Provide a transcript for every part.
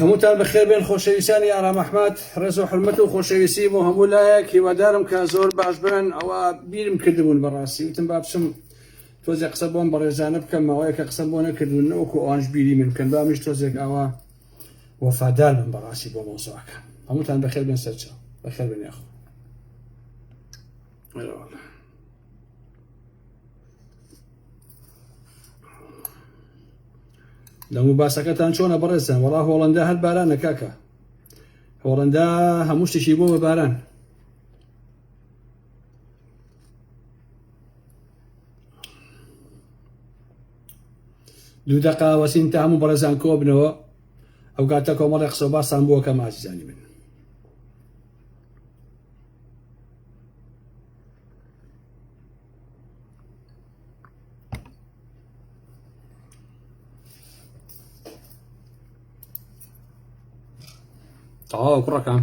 هەمووتان بەخێبێن خۆشەویستانی ئارام ئەحمد ڕێز و حرمەت و خۆشەویستی بۆ هەموو لایەک هیوادارم کە زۆر باش بن ئەوە بیرم کردبوون بەڕاستی وتم با بچم تۆزێک قسە بۆم بەڕێزانە بکەم ماوەیەکە قسەم بۆ نەکردون نەوەکو ئەوانش بیری من بکەن با منیش تۆزێک ئاوا وەفادار بم بەڕاستی بۆ مەوزوعەکە هەمووتان بەخێر بێن سەرچاو بەخێر بێن یاخۆ لەمو باسەکەتان چۆنە بەڕێزان وەڵا هۆڵندا هەر بارانە کاکە هۆڵندا هەموو شتێکی بۆ بە باران دوو دەقا وەسین تا هەموو بەڕێزان کۆبنەوە ئەو گاتە کۆمەڵی قسە باسان بووە کە مازیزانی من تەواو کوڕەکان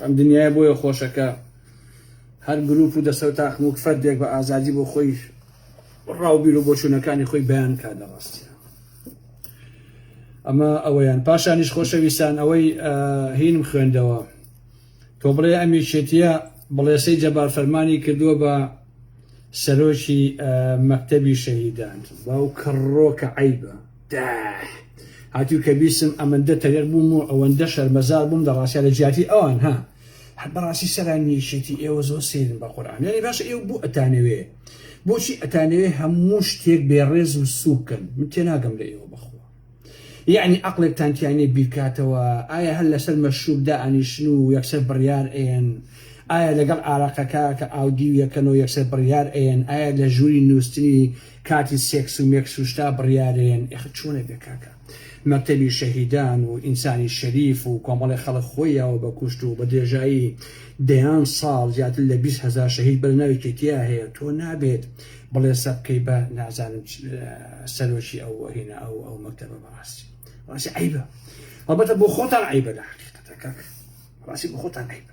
ئەم دنیای بۆیە خۆشەکە هەر گروپ و دەسەر تاخم و فەردێک بە ئازادی بۆ خۆی ڕاوبیر و بۆچوونەکانی خۆی بەیان کا لە ڕاستە ئەمە ئەوەیان پاشانیش خۆشەویستان ئەوەی هینم خوێندەوە تۆ بڵێ ئەمیشێتە بڵێسەی جەبار فەرمانی کردووە بە سەرۆکی مەکتەبی شەهیدان باو کڕۆکە عیبە دااح هاتوو کە بیسم ئەمەندە تەرێق بووم و ئەوەندە شەرمەزار بووم لە ڕاستیا لە جیاتی ئەوان ها بەڕاستی سەران نیشێتی ئێوە زۆر سێرن بە قورآان یانی باش ئێوە بوو ئەتانەوێ بۆچی ئەتانەوێ هەموو شتێک بێ ڕێز و سووکن من تێناگەم لە ئێوە بخۆ یعنی عقلێکتان تیانێ بیرکاتەوە ئایا هەر لەسەر مەشروبدا ئەنیشن و یەکسەر بڕیار ئەیەن ئایا لەگەڵ ئارەقەکە کە ئاودی و یەکەنەوە یەکسەر بڕیار ئەیەن ئایا لە ژووری نووسنی کاتی سێکس و مێکس و شتا بڕیارێن ئێخە چۆنە بێ کاکە مەکتەبی شەهیدان و ئینسانی شەریف و کۆمەڵی خەڵک خۆی یاوە بە کوشت و بە درێژایی دەیان ساڵ زیاتر لە بیست هەزار شەهید بەرە ناوی کێتیا هەیە تۆ نابێت بڵێ سە بکەی بە نازانم سەرۆکی ئەو هێنا ئەو ئەو مەکتەبە بەڕاستی ڕاستی عیبە هەڵبەتە بۆ خۆتان عیبە لە حقیقەتەکە ڕاستی بۆ خۆتان عیبە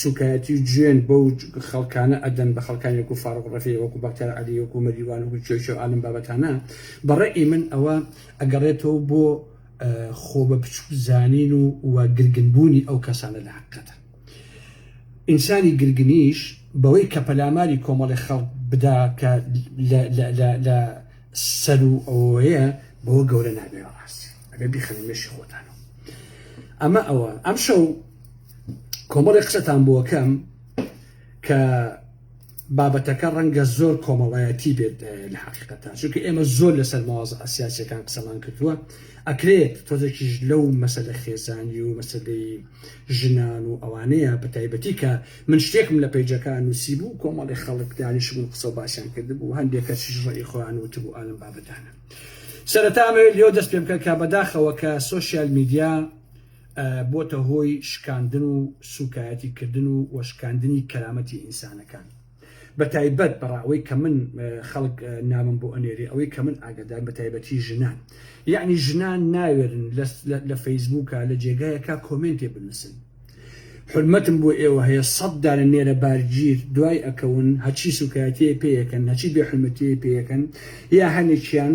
سوکایەتی و جوێن بەو خەڵکانە ئەدەن بە خەڵکانی وەکو فاروق رەفیع وەکو بەختیار عەلی وەکو مەریوان وەکو چۆیچۆ ئالم بابەتانە بە ڕەئی من ئەوە ئەگەڕێتەوە بۆ خۆ بە بچوک زانین و و گرگن بوونی ئەو کەسانە لە هەقیقەتە ئینسانی گرگنیش بەوەی کە پەلاماری کۆمەڵی خەڵک بدا کە لە سەر و ئەوەیە بەوە گەورە نابێ ڕاست ئەبێ بیخەنە مێشی خۆتانەوە ئەمە ئەوە ئەم شەو کۆمەڵێ قسەتان بۆکەم کە بابەتەکە ڕەنگە زۆر کۆمەڵایەتی بێت لە حقیقەتان چونکە ئێمە زۆر لەسەر مواز ئەسیاسەکان قسەمان کردووە ئەکرێت تۆزێکیش لەو مەسەلە خێزانی و مەسلەی ژنان و ئەوانەیە بە تایبەتی کە من شتێکم لە پەیجەکان نووسی بوو کۆمەڵی خەڵک دانیش بوون قسە باسیان کرد بوو هەندێکە چیش ڕێی خۆیان وت بوو ئالم بابەتانە سەرەتامەوێت لێو دەست پێ بکە کە بەداخەوە کە سوسیال میدیا بۆتە هۆی شکاندن و سوکایەتی کردن و و شکاندنی کەرامەتی ئینسانەکان بە تایبەت بەڕا ئەوەی کە من خەڵک نامم بۆ ئەنێری ئەوەی کە من ئاگادار بە تایبەتی ژنان یعنی ژنان ناوێرن لە فەیسبووکە لە جێگایەکە کۆمێنتێ بنووسن حورمەتم بۆ ئێوە هەیە سەد دانە نێرە بارگیر دوای ئەکەون هەچی سوکایەتیە پێیەکەن هەچی بێحرمەتیە پێیەکەن یا هەنێکیان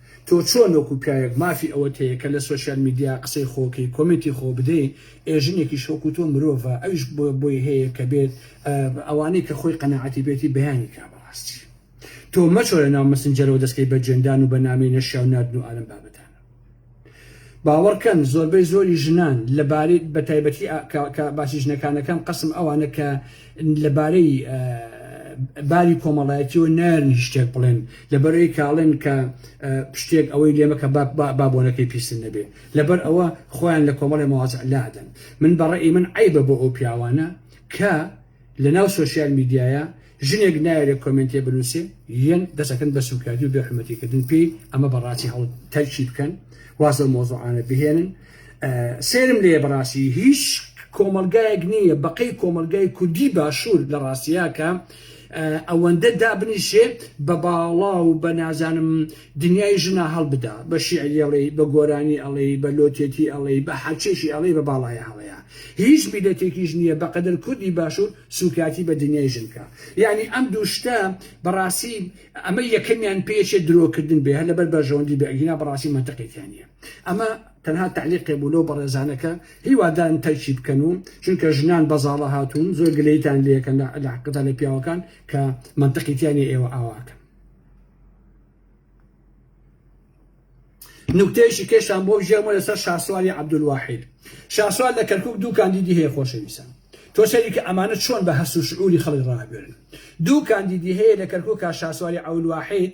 تۆ چۆن وەکو پیاوێک مافی ئەوەت هەیە کە لە سۆشیال میدیا قسەی خۆکەی کۆمێنتی خۆ بدەی ئێ ژنێکیش وەکو تۆ مرۆڤە ئەویش بۆی هەیە کە بێت ئەوانەی کە خۆی قەناعەتی بێتی بەیانی کا بەڕاستی تۆ مەچۆ لە ناو مەسنجەرەوە دەسکەی بە جوێندان و بە نامەی نەشیاو ناردن و ئالەم بابەتانە. باوەڕکەن زۆربەی زۆری ژنان لەبارەی بەتایبەتی کە باسی ژنەکان دەکەم قەسم ئەوانە کە لەبارەی باری کۆمەڵایەتیەوە نارن شتێک بڵێن لەبەرەوەی کاڵێن کە شتێک ئەوەی لێمە کە بابۆنەکەی پیسن نەبێ لەبەر ئەوە خۆیان لە کۆمەڵی مواز لادەن من بەڕێ من عیبە بۆ ئەو پیاوانە کە لە ناو سوسیال میدیایە ژنێک نایەوێ کۆمێنتێ بنوسێ یەن دەست ئەکەن بە سوکایەتی و بێ حورمەتی کردن پێی ئەمە بەڕاستی هەڵ تەرکی بکەن واز لەو مۆزوعانە بهێنن سێرم لێ بەڕاستی هیچ کۆمەلگایەک نییە بەقەی کۆمەلگای کوردی باشوور لە ڕاستیاکە ئەوەندە دابنیشێ بە باڵا و بە نازانم دنیای ژنا هەڵبدا بە شیعری ئەڵێ بە گۆرانی ئەڵێ بە لۆتێتی ئەڵێ بە حەچێکی ئەڵێ بە باڵایە هەڵەیە هیچ میلەتێکیش نییە بەقەدەر کوردی باشوور سوکایەتی بە دنیای ژن بکا یانی ئەم دوو شتە بەڕاستی ئەمە یەکەمیان پێچێ درۆکردن بێ هەر لەبەر بەرژەوەندی بێ ئەگینا بەڕاستی مەنتەقێکیان نییە ئەمە تەنها تعلیقێ بوو لەو بەڕێزانەکە هیوادارم تەرکی بکەن و چونکە ژنان بەزاڵە هاتوون زۆر گلەیتان لەکەن لە علاقدا لە پیاوەکان کە مەنتەقیتیانی ئێوە ئاواکەن نوکتەیەکی کێشان بۆ ژێمە لەسەر شاسوالی عەبدولواحید شاسوال لە کەرکک دوو کاندیدی هەیە خۆشەویستان تۆ سەری کە ئەمانە چۆن بە هەست و شعوری خەڵک ڕاگوێرن دوو کاندیدی هەیە لە کەرکک کا شاسواری عەولواحید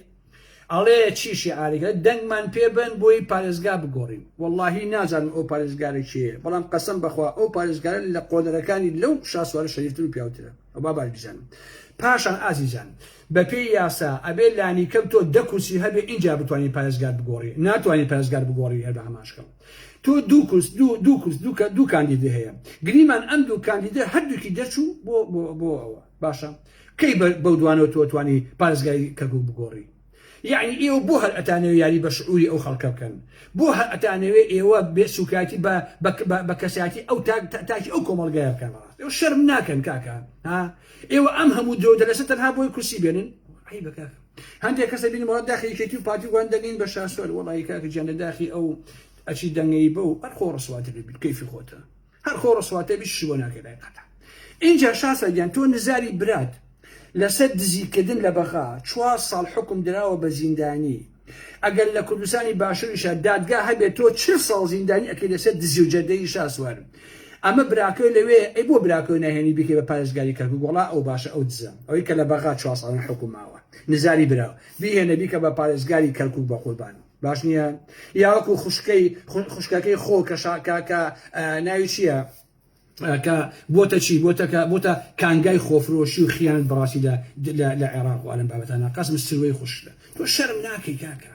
ئەڵێ چی شعارێکە دەنگمان پێبن بۆی پارێزگا بگۆڕین واللهی نازانم ئەو پارێزگارە چیە بەڵام قەسم بخوا ئەو پارێزگارە لە قۆدەرەکانی لەو شاسوارە شەریفتر و پیاوترە ئەو بابار بزانم پاشان ئازیزان بە پێی یاسا ئەبێ لانیکەم تۆ دە کورسی هەبێ ئینجا بتوانی پارێزگار بگۆڕی ناتوانی پارێزگار بگۆڕی هەر بە ئاماژکەم تۆ دوو کورس دوو دوو کورس دوو کە دوو کاندیدی هەیە گریمان ئەم دوو کاندیدە هەردووکی دەرچوو بۆ بۆ بۆ ئەوە باشە کەی بە بەو دوانەوە تۆ توانی پارێزگاری کەرکوک بگۆڕی یەعنی ئێوە بۆ هەر ئەتانەوێ یاری بە شعوری ئەو خەڵکە بکەن بۆ هەر ئەتانەوێ ئێوە بێ سوکایەتی بە بە بە کەسایەتی ئەو تاک تاکی ئەو کۆمەڵگایە بکەن بەڕاست ئێوە شەرم ناکەن کاکە ها ئێوە ئەم هەموو درۆو دەلەسە تەنها بۆی کورسی بێنن؟ عەیبە کاکە هەندێک کەس دەبینم وەڵا داخی یەکێتی و پارتی و گۆران دەنێین بە شاسوار وەڵایی کاکە گیان لە داخی ئەو ئەچی دەنگەی بە و هەر خۆ ڕسواتر دەبیت کەیفی خۆتە هەر خۆ ڕسواتە بیت شی بۆ ناکەی لای قەتە ئینجا شاسوار گیان تۆ نزاری برات لەسەر دزیکردن لە بەغا چوار ساڵ حکم دراوە بە زیندانی ئەگەر لە کوردستانی باشوریشا دادگا هەبێت تۆ چل ساڵ زیندانی ئەکەی لەسەر دزی و جەردەی شاسوارم ئەمە براکەی لەوێ ئەی بۆ براکەی ناهێنی بکەی بە پارێزگاری کەرکوک وڵا ئەو باشە ئەو دزە ئەوەی کە لە بەغا چوار ساڵن حکوم ماوە نزاری برا بیهێنە بیکە بە پارێزگاری کەرکوک بە قوربان باش نییە یاوەکو خوشکەی خوشکەکەی خۆ کە شاکاکە ناوی چییە کە بۆتە چی بۆتە کە بۆتە کانگای خۆفرۆشی و خیان بەڕاستی لە عێراق و ئەلم بابەتانە قەسم سروەی خوشتە تۆ شەرم ناکەی کاکە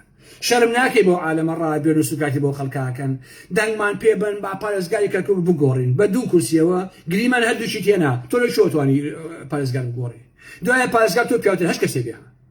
شەرم ناکەی بۆ عالەمە ڕابێن و سوکاتی بۆ خەڵکاکەن دەنگمان پێ بن با پارێزگاری کەرکوک بگۆڕین بە دوو کورسیەوە گریمان هەردووشی تێنا تۆ لە شۆتوانی پارێزگار بگۆڕی دوایە پارێزگار تۆ پیاوتر هەش کەسێ بێ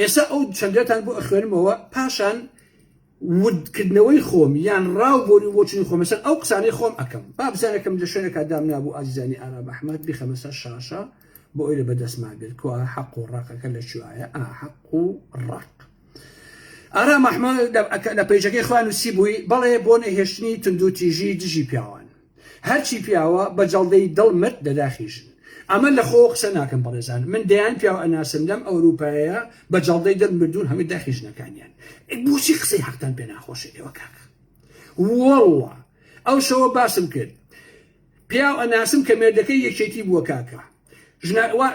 ئێستا ئەو چەندەتان بۆ ئەخوێنمەوە پاشان ودکردنەوەی خۆم یان ڕاو بۆری بۆچنی خۆمە سەر ئەو قسانەی خۆم ئەەکەم بابزانەکەم لە شوێنەکە دام نابوو ئازیزانی ئارام ئەحمد بخەمەسە شاشە بۆ ئەوی لە بەدەستمان بێت کو حەق و ڕقەکە لە کوایە ئاحق و ڕق ئارام ئەحمد لە پێیجەکەی خوان و سی بووی بەڵێ بۆ نەهێشتنی تونندو تیژی دژی پیاوان هەرچی پیاوە بە جەڵدەی دڵ مت لە داخی ژن. ئەمە لە خۆوە قسە ناکەم بەڕێزان من دەیان پیاو ئەناسم لەم ئەوروپایەیە بە جەڵدەی دڵ مردوون هەمووی داخی ژنەکانیان ئەی بۆچی قسەی حەقتان پێ ناخۆشە ئێوە کاک وەڵڵا ئەو شەوە باسم کرد پیاو ئەناسم کە مێردەکەی یەکێتی بووە کاکە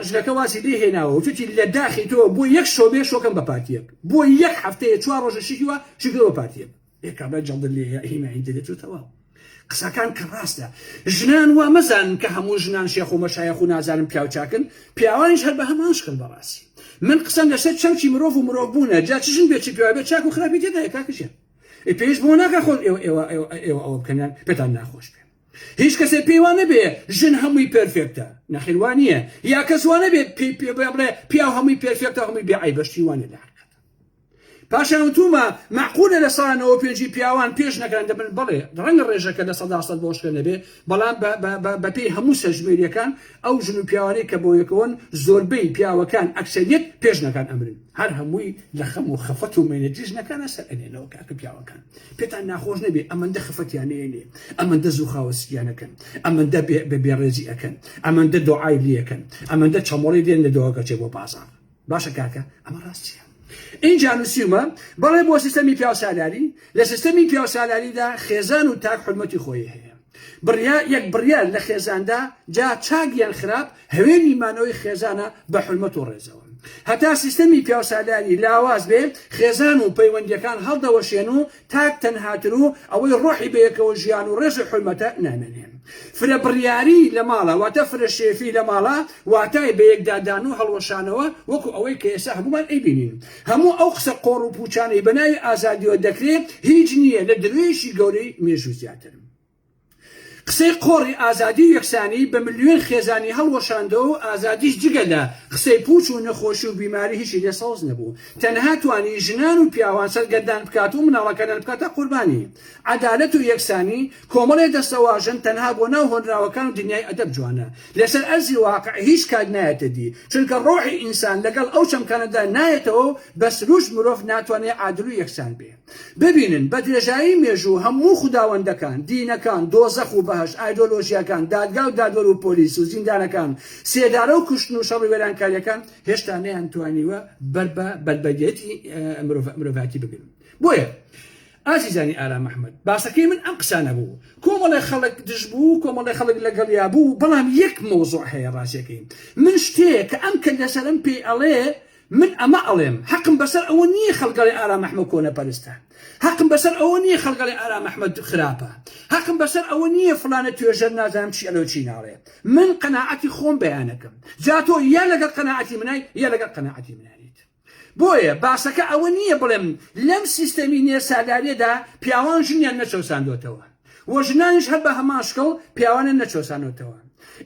ژنەکە واسی لێ هێناوە وتوتی لە داخی تۆ بۆ یەک شۆبێ شۆکەم بە پارتیەک بۆ یەک هەفتەیە چوار ڕۆژە شیوە شکرەوە پارتیەک ئێ کابرا جەڵدت لێ یە هیمایی دەرێت و تەواو. قسەکان کە ڕاستە ژنان وا مەزانن کە هەموو ژنان شێخ و مەشایەخ و نازانم پیاو چاکن پیاوانیش هەر بە هەمان شکل بەڕاستی من قسەم لەسەر چەمکی مرۆڤ و مرۆڤ بوونە جا چ ژن بێ چ پیاو بێ چاک و خراپی تێدایە کاکەژیان ئێ پێویست بۆ ناکە خۆن ئێوە ئێوە ئێوە ئێوە ئەوە بکەنیان پێتان ناخۆش بێ هیچ کەسێ پێی وانە بێ ژن هەمووی پێرفێکتە نەخێر وا نییە یا کەس وانە بێ پێی پێ بڵێ پیاو هەمووی پێرفێکتە هەمووی بێ عەیبە شتی وانە لە حەقیقەتە پاشان وتوومە، مەعقولە لە سەدا نەوەد و پێنجی پیاوان پێش نەکەن؟ دەبن، بەڵێ، ڕەنگە ڕێژەکە لە سەدا سەد بۆشکە نەبێ، بەڵام بە بە بە بەپێی هەموو سەرژمێرییەکان، ئەو ژن و پیاوانەی کە بەویەکەوەن، زۆربەی پیاوەکان، ئەکسەرییەت، پێش نەکەن ئەمرن. هەر هەمووی لە خەم و خەفەت و مەینەتی ژنەکانە سەر ئەنێنەوە، کاکە پیاوەکان، پێتان ناخۆش نەبێ، ئەمەندە خەفەتیان نەیەنێ، ئەمەندە زوو خاوەسکیان ئەکەن، ئەمەندە بێ بێڕێزی ئەکەن، ئەمەندە دۆعای لێ ئەکەن، ئەمەندە چەمۆڵی دێننە دۆگەکەچێ بۆ بازاڕ. باشە کاکە ئەمە ڕاست چیە ئینجا نووسیومە بەڵێ بۆ سیستەمی پیاوسالاری لە سیستەمی پیاوسالاریدا خێزان و تاک حرمەتی خۆی هەیە بڕیا یەک بڕیار لە خێزاندا جا چاک یان خراپ هەوێنی مانەوەی خێزانە بە حرمەت و ڕێزەوە هەتا سیستەمی پیاوسالاری لاواز بێ خێزان و پەیوەندیەکان هەڵدەوەشێن و تاک تەنهاتن و ئەوەی ڕۆحی بەیەکەوە ژیان و ڕێز و حورمەتە نامێنێ. فرە بڕیاری لە ماڵە واتە فرە شێفی لە ماڵە واتای بە یەکدادان و هەڵوەشانەوە وەکو ئەوەی کە ئێستا هەموومان ئەیبینین. هەموو ئەو قسە قۆڕ و پووچانەی بەناوی ئازادیەوە دەکرێ هیچ نییە لە درۆیەکی گەورەی مێژوو زیاتر. قسەی قۆڕی ئازادی و یەکسانی بە ملیۆن خێزانی هەڵوەشاندەوە و ئازادیش جگە لە قسەی پوچ و نەخۆشی و بیماری هیچی لێ سەوز نەبوو تەنها توانی ژنان و پیاوان سەرگەردان بکات و مناڵەکانیان بکاتە قوربانی عەدالەت و یەکسانی کۆمەڵێ دەستەواژەن تەنها بۆ ناو هۆنراوەکان و دنیای ئەدەب جوانە لەسەر ئەرزی واقع هیچ کات نایەتە دی چونکە ڕۆحی ئینسان لەگەڵ ئەو چەمکانەدا نایەتەوە و بە سروشت مرۆڤ ناتوانێ عادل و یەکسان بێ. ببینن، بە درێژایی مێژوو هەموو خوداوەندەکان، دینەکان، دۆزەخ و بەهەشت، ئایدۆلۆژیاکان، دادگا و دادوەر و پۆلیس و زیندانەکان، سێدارە و کوشتن و شەڕی وێرانکارییەکان هێشتا نەیانتوانیوە بەر بە بەربەگێتی مرۆڤایەتی بگرن. بۆیە ئازیزانی ئارام ئەحمەد، باسەکەی من ئەم قسانە بوو. کۆمەڵێ خەڵک دژ بوو و کۆمەڵێ خەڵک لەگەڵیا بوو، بەڵام یەک مەوزوع هەیە ڕازیەکەی من شتێیە کە ئەم کەللەژەرەم پێی ئەڵێ، من ئەمە ئەڵێم هەقم بەسەر ئەوە نییە خەڵکەڵێ ئارام ئەحمە کۆنەپەرستە هەقم بەسەر ئەوە نییە خەڵکەڵێ ئارام ئەحمە خراپە هەقم بەسەر ئەوە نییە فڵانە توێژەر نازانم چی ئەلێو چی ناڵێ من قەناعەتی خۆم بەیانەکەم جا تۆ یا لەگەڵ قەناعەتی منای یا لەگەڵ قەناعەتی منای بۆیە باسەکە ئەوە نییە بڵێم لەم سیستەمی نێسالاریەدا پیاوان ژنیان نەچەوساندۆتەوە. و ژنانیش هەر بە هەمان شکڵ پیاوانیان نەچەوسانۆتەوە.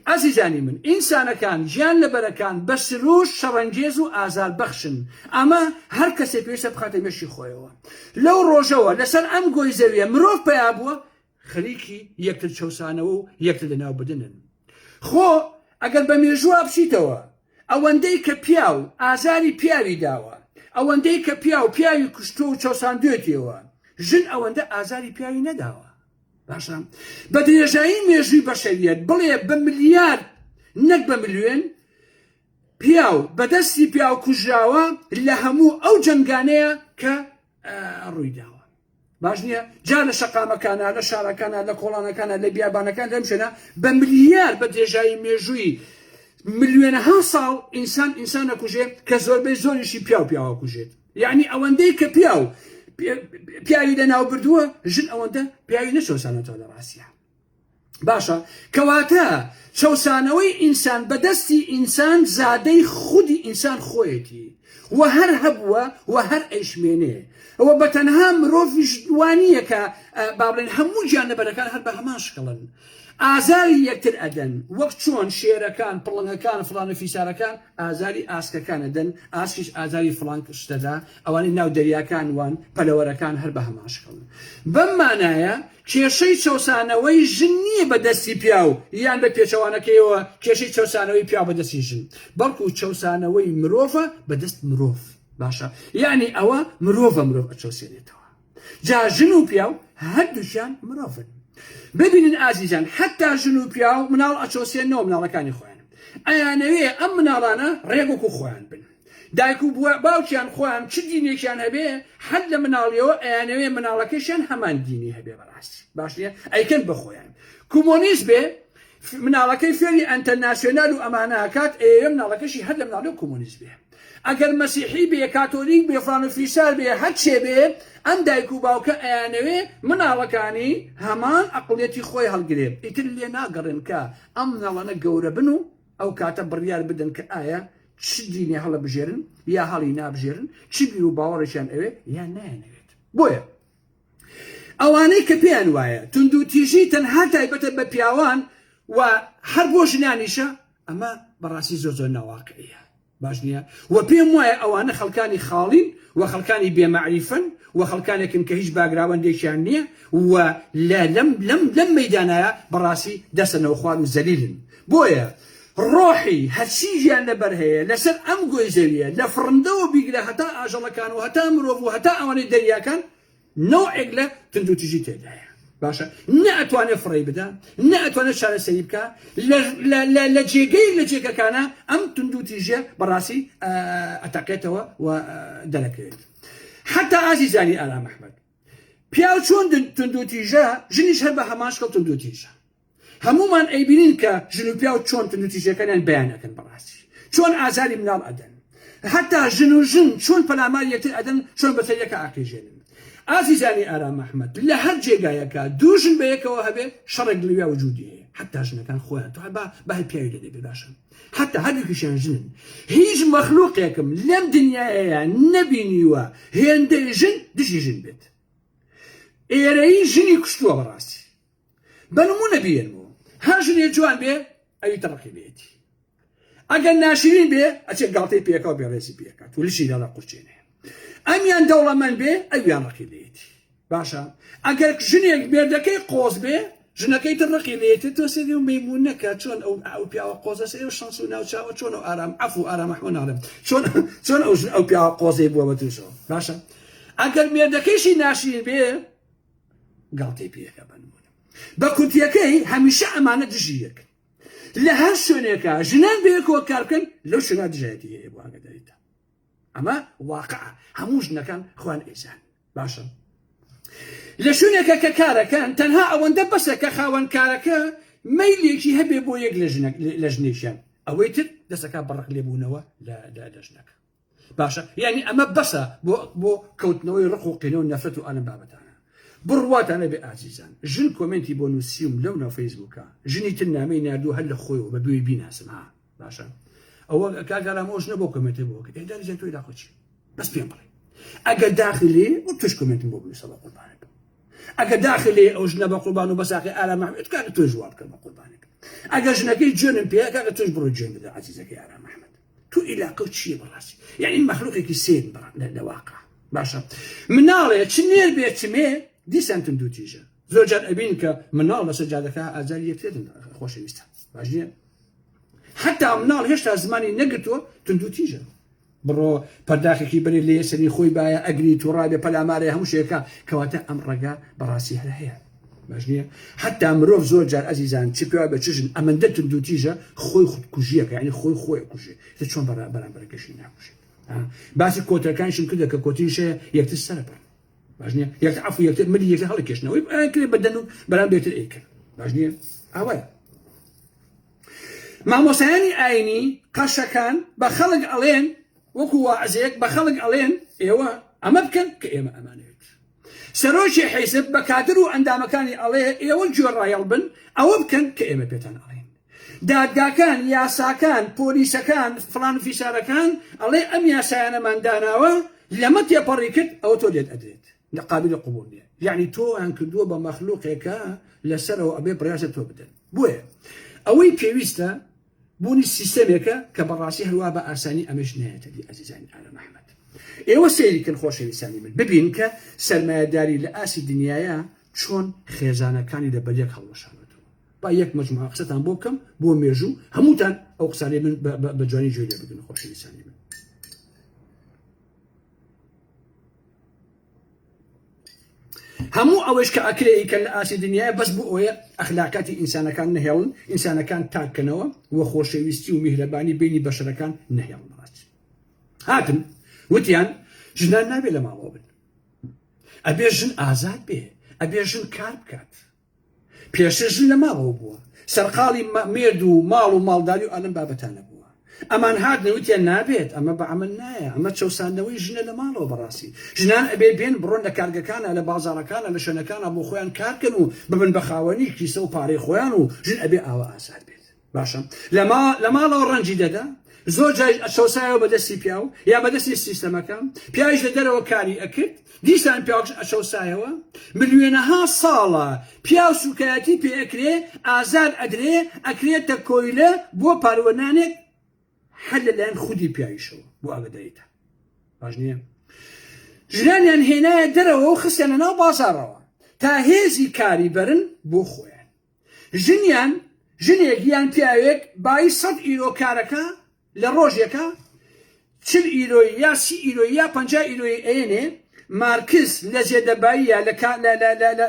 ئەزیزانی من، ئینسانەکان گیان لەبەرەکان بە سرووشت شەڕەنگێز و ئازاربەخشن، ئەمە هەر کەسێ پێویستە بخاتە مێشکی خۆیەوە. لەو ڕۆژەوە لەسەر ئەم گۆی زەویە مرۆڤ پەیا بووە، خەریکی یەکتر چەوسانەوە و یەکتر لەناوبردنن. خۆ ئەگەر بە مێژووا بچیتەوە، ئەوەندەی کە پیاو ئازاری پیاوی داوە، ئەوەندەی کە پیاو پیاوی کوشتووە و چەوساندوێتیەوە، ژن ئەوەندە ئازاری پیاوی نەداوە. باشە بە درێژایی مێژووی بەشەریەت بڵێ بە ملیارد نەک بە ملیۆن پیاو بە دەستی پیاو کوژراوە لە هەموو ئەو جەنگانەیە کە ڕوویداوە. باش نییە جا لە شەقامەکانە لە شارەکانە لە کۆڵانەکانە لە بیابانەکان لەم شوێنە بە ملیار بە درێژایی مێژووی ملیۆنەها ساڵ ئینسان ئینسانە کوژێ کە زۆربەی زۆریشی پیاو پیاوە کوژێت یعنی ئەوەندەی کە پیاو پیاوی لە ناو بردووە ژن ئەوەندە پیاوی نەچۆسانەتەوە لە ڕاستیان باشە کەواتە چەوسانەوەی ئینسان بەدەستی ئینسان زادەی خودی ئینسان خۆیەتی و هەر هەبووە و هەر ئەیشمێنێ ئەوە بە تەنها مرۆڤش دوانیە کە بابلێن هەموو گیانەبەرەکان هەر بە هەمان شکڵن ئازاری یەکتر ئەدەن وەک چۆن شێرەکان پڵنگەکان فلانە فیسارەکان ئازاری ئاسکەکان ئەدەن، ئاسکیش ئازاری فڵان شت ئەدا، ئەوانەی ناو دەریاکان وان، پەلەوەرەکان هەر بەهەمان شکڵن. بەم مانایە کێشەی چەوسانەوەی ژن نییە بە دەستی پیاو، یان بە پێچەوانەکەیەوە کێشەی چەوسانەوەی پیاو بە دەستی ژن، بەڵکو چەوسانەوەی مرۆڤە بە دەست مرۆڤ. باشە یانی ئەوە مرۆڤە مرۆڤ ئەچەوسێنێتەوە. جا ژن و پیاو هەردووکیان مرۆڤن ببینن ئازیزان حتا ژن و پیاو مناڵ ئەچۆسێنەوە مناڵەکانی خۆیان ئەیانەوێ ئەم مناڵانە ڕێگوکو خۆیان بن دایک و باوکیان خۆیان چ دینێکیان هەبێ حەد لە مناڵیەوە ئەیانەوێ مناڵەکەشیان هەمان دینی هەبێ بەڕاست باش نیە ئەیکەن بەخۆیان کومۆنیست بێ مناڵەکەی فێری ئەنتەرناسیۆنال و ئەمانە کات ئێ مناڵەکەشی هەر لە مناڵی و کومۆنیست بێ ئەگەر مەسیحی بێ کاتۆلیک بێ فان و فیسار بێ هەر چێ بێ ئەم دایک و باوکە ئەیانەوێ مناڵەکانی هەمان ئەقڵیەتی خۆی هەڵگرێ ئیتر لێ ناگەڕێن کە ئەم مناڵانە گەورە بن و ئەو کاتە بڕیار بدەن کە ئایا چ دینێ هەڵەبژێرن یا هەڵی نابژێرن چ بیر و باوەڕێکیان ئەوێ یان نایەنەوێت بۆیە ئەوانەی کە پێیان وایە توندوتیژی تەنها تایبەتە بە پیاوان و هەر بۆ ژنانیشە ئەمە بەڕاستی زۆر زۆر ناواقعیە باش نییە و پێم وایە ئەوانە خەڵکانی خاڵین و خەڵکانی بێمەعریفن و خەڵکانێکن کە هیچ باگراوەندێکیان نییە و لە لەم لەم لەم مەدانایە بەڕاستی دەسە نەوخوار و زەلیلن بۆیە ڕۆحی هەرچیژیان لەبەر هەیە لەسەر ئەم گۆی زەویە لە فڕندەوە بیگرە هەتا ئاژەڵەکان و هەتا مرۆڤ و هەتا ئەوانەی دەریاکان نەوعێک لە تندوتیژی تێدایە باشە نە ئەتوانێت فڕی بدا نە ئەتوانێت چارەسەری بکە لە جێگەی لە جێگەکانە ئەم تندوتیژە بەڕاستی ئەتەقێتەوە و دەرەکەوێت حتا ئازیزانی ئارام ئەحمد پیاو چۆن تندوتیژە ژنیش هەر بە هەماشکەڵ تندوتیژە هەموومان ئەیبینین کە ژن و پیاو چۆن توندوتیژیەکانیان بەیان ئەکەن بەڕاستی چۆن ئازاری مناڵ ئەدەن هەتا ژن و ژن چۆن پەلامار یەکتر ئەدەن چۆن بەسەر یەکە ئاقیژێنن ئازیزانی ئارام ئەحمەد لە هەر جێگایەکە دوو ژن بە یەکەوە هەبێ شەڕێک لەویا وجودی هەیە حتا ژنەکان خۆیان تو با بە هەر پیاوی لە دەبێ باشە حتا هەردووکیشیان ژنن هیچ مەخلوقێکم لەم دنیاەیە نەبینیوە هێندەی ژن دژی ژن بێت ئێرەیی ژنی کوشتووە بەڕاستی بە نمونە بیێن بۆ هەر ژنێ جوان بێ ئەوی تەڕقی بێتی ئەگەر ناشرین بێ ئەچێ گاڵتەی پێکەوە بێڕێزی پێکات و لشی لەڵە قورچێنێ ئەمیان دەوڵەمەند بێ ئەویان ڕقی لێتی باشە ئەگەر ژنێک مێردەکەی قۆز بێ ژنەکەی تر ڕقی لێتێت تۆ سێری و مەمون نەکە چۆن ئەو ئەو پیاوە قۆزە سێ و شانس و ناوچاوە چۆن و ئارام عف و ئارامەحمە ناڵم چۆن چۆن ئەو ژن ئەو پیاوە قۆزەی بووە بە تووشەوە باشە ئەگەر مێردەکەیشی ناشرین بێ گاڵتەی پێکا بە نمونە بە کورتیەکەی هەمیشە ئەمانە دژی یەکن لە هەر شوێنێکە ژنان بەیەکەوە کار بکەن لەو شوێنە دژایەتی هەیە بۆ ئاگداریتە ئەمە واقع هەموو ژنەکان خوان ئێزان باشە لە شوێنێکە کە کارەکەن تەنها ئەوەندە بەسە کە خاوەن کارەکە مەیلێکی هەبێ بۆ یەک لە ژنێکیان ئەوەی تر دەسەکە بەڕق لێبوونەوە لە ژنەکە باشە یعنی ئەمە بەسە بۆ بۆ کەوتنەوەی ڕق و قینە و نەفرەت و ئەلم بابەتانە بڕواتانە بێ ئازیزان ژن کۆمنتی بۆ نووسیم لەو ناو فەیسبووکە ژنی تر نامەی نردوو هەر لە خۆی و بە دوێ بیناسم ها باشە ئەوە کاگەرامۆش نەبوو کۆمنتی بۆ کە ئێداری زیاتۆ لاقۆچی بەس پێم بڵێ ئەگەر داخلی و توش کۆمنتم بۆ بنووسە بە قوربانەکە ئەگەر داخلی ئەو ژنە بە قوربان و بەساقی ئارامە کاکە توش وابکەم بە قوربانەکە ئەگەر ژنەکەی جوێنم پێ کاکە توش بڕۆ جوێن بدە عزیزەکەی ئارامە تو ئیلاقەو چیە بەڕاستی یانی مەخلوقێکی سێری بەڕ لە واقع باشە مناڵێ چ نێر بێ چمێ دیسان تون دوو تیژە زۆر جار ئەبین کە مناڵ لەسەر جادەکە ئازاری یەکترێتن خۆشەویستە باش نیە حتا مناڵ هێشتا زمانی نەگرتووە تون دوو تیژە بڕۆ پەرداخێکی بەرێ لێ سەری خۆی باە ئەگری تووڕابێ پەلامارێ هەموو شێکە کەواتە ئەم ڕێگا بەڕاستی هەر هەیە باش نییە حتا مرۆڤ زۆر جار ئەزیزان چ پێوا بە چژن ئەمەندە تندوتیژە خۆی خود کوژیەکە ینی خۆی خۆی کوژێ لە چۆن بەرا بەرامبەرەکەشی ناکوژێت باسی کۆتەکانشم کردە کە کۆتینشە یەکتر سەرپەر باش نییە یەک عفو یەکتر ملی یەکتر هەڵکێشنەوەی کرێ بەدەن و بەرام بێتر ئەیکە باش نییە ئەوە مامۆسایانی ئاینی قەشەکان بە خەڵک ئەڵێن وەکو وازێک بە خەڵک ئەڵێن ئێوە ئەمە بکەن کە ئێمە ئەمانێت سەرۆکی حیزب بە کادر و ئەندامەکانی ئەڵێ ئێوە گوێڕایەڵ بن ئەوە بکەن کە ئێمە پێتان ئەڵێین. دادگاکان، یاساکان، پۆلیسەکان، فڵان و فیسارەکان ئەڵێ ئەم یاسایانەمان داناوە لەمە تێپەڕی کرد ئەوە تۆ لێت ئەدرێت لە قابلی قوبوڵ نییە. یەعنی تۆیان کردووە بە مەخلوقێکە لەسەرەوە ئەبێ بڕیارە تۆ بدەن. بۆیە ئەوەی پێویستە بوونی سیستەمێکە کە بەڕاستی هەروا بە ئاسانی ئەمەش نایەتە دی ئازیزانی ئارام ئەحمەد ئێوە سەیریکن خۆشەویستانی من ببین کە سەرمایەداری لە ئاسی دنیاە چۆن خێزانەکانی لە بەریەک هەڵوەشانەوە با یەک مەجموعە قسەتان بۆ بکەم بۆ مێژوو هەمووتان ئەو قسانەی من بە جوانی جوێ لێ بگرن خۆشەویستانی من هەموو ئەوەش کە ئەکرێ ئیکەن لە ئاستی دنیایە بەس بۆ ئەوەیە ئەخلاقیاتی ئینسانەکان نەهێڵن ئینسانەکان تاک کەنەوە و خۆشەویستی و میهرەبانی بینی بەشەرەکان نەهێڵنەوەت هاتن وتیان ژنان نابێ لە ماڵەوە بن ئەبێ ژن ئازاد بێ ئەبێ ژن کار بکات پێشتر ژن لە ماڵەوە بووە سەرقاڵی مێرد و ماڵ و ماڵداری و ئەلم بابەتانە بووە ئەمان هات نەوتیان نابێت ئەمە بە ئەمە نایە ئەمە چەساندنەوەی ژنە لە ماڵەوە بەڕاستی ژنان ئەبێ بێن بڕۆن لە کارگەکانە لە بازارەکانە لە شوێنەکانە بۆ خۆیان کارکەن و ببن بە خاوەنی کیسە و پارەی خۆیان و ژن ئەبێ ئاوە ئازاد بێت باشە لە ماڵەوە ڕەنجی دەدا زۆر جای ئەچەوسایەوە بە دەستی پیاو یا بە دەستی سیستەمەکە پیاویش لە دەرەوە کاری ئەکرد دیسان پیاوش ئەچەوسایەوە ملیێنەها ساڵە پیاو سوکایەتی پێ ئەکرێ ئازار ئەدرێ ئەکرێتە کۆیلە بۆ پاروەنانێک هەر لەلایەن خودی پیاویشەوە بۆ ئاگدایتە باش نییە ژرانیان هێنایە دەرەوە و خستیانە ناو بازارەوە تا هێزی کاری بەرن بۆ خۆیان ژنیان ژنێک یان پیاوێک بایی سەد ئیرۆ کارەکە لە ڕۆژێکە چل ئیرۆی یا سی ئیرۆی یا پنج ئیرۆی ئەێنێ مارکس لە زێدەباییە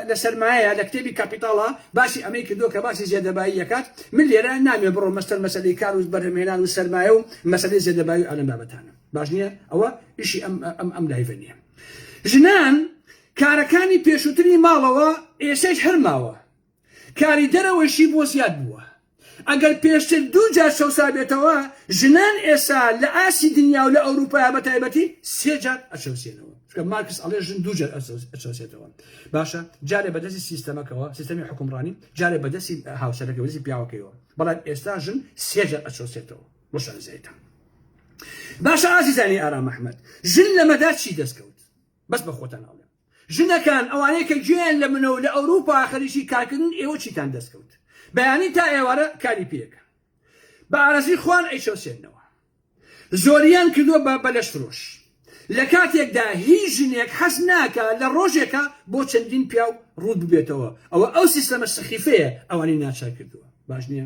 لە سەرمایە لە کتێبی کاپیتاڵە باسی ئەمەی کردو کە باسی زێدەبایی یەکات من لێرە نامێ بڕۆ مەستەر مەسلی کار و بەرهمێنان و سەرمایە و مەسلی زێدەبایی و ئەلم بابەتانە باش نییە ئەوە ئیشی ئەم ئەم ئەم لایڤە نییە ژنان کارەکانی پێشووتری ماڵەوە ئێسش هەرماوە کاری دەرەوەیشی بۆ زیاد بووە. ئەگەر پێشتر دوو جار چەوسابێتەوە، ژنان ئێستا لە ئاستی دنیا و لە ئەوروپا بە تایبەتی سێ جار ئەچەوسێنەوە. چونکە مارکس ئەڵێ ژن دوو جار ئەچەوسێتەوە. باشە جارێ بە دەستی سیستەمەکەوە، سیستەمی حوکمڕانی، جارێ بە دەستی هاوسەرەکەی، بە دەستی پیاوەکەیەوە. بەڵام ئێستا ژن سێ جار ئەچەوسێتەوە. بۆ شانازیتان. باشە ئازیزانی ئارام ئەحمەد، ژن لەمەدا چی دەست کەوت؟ بەس بە خۆتان ئەڵێم. ژنەکان ئەوانەی کە گوێیان لە منە و لە ئەوروپا خەریکی کارکردنن ئێوە چیتان دەست کەوت بەیانی تا ئێوارە کاری پێکەن بە ئارەزوی خوان ئەیچەوسێنەوە زۆریان کردوە بە بەلەش فرۆش لە کاتێکدا هیچ ژنێک حەز ناکە لە ڕۆژێکە بۆ چەندین پیاو ڕووت ببێتەوە ئەوە ئەو سیستەمە سەخیفەیە ئەوانی ناچار کردوە باش نیە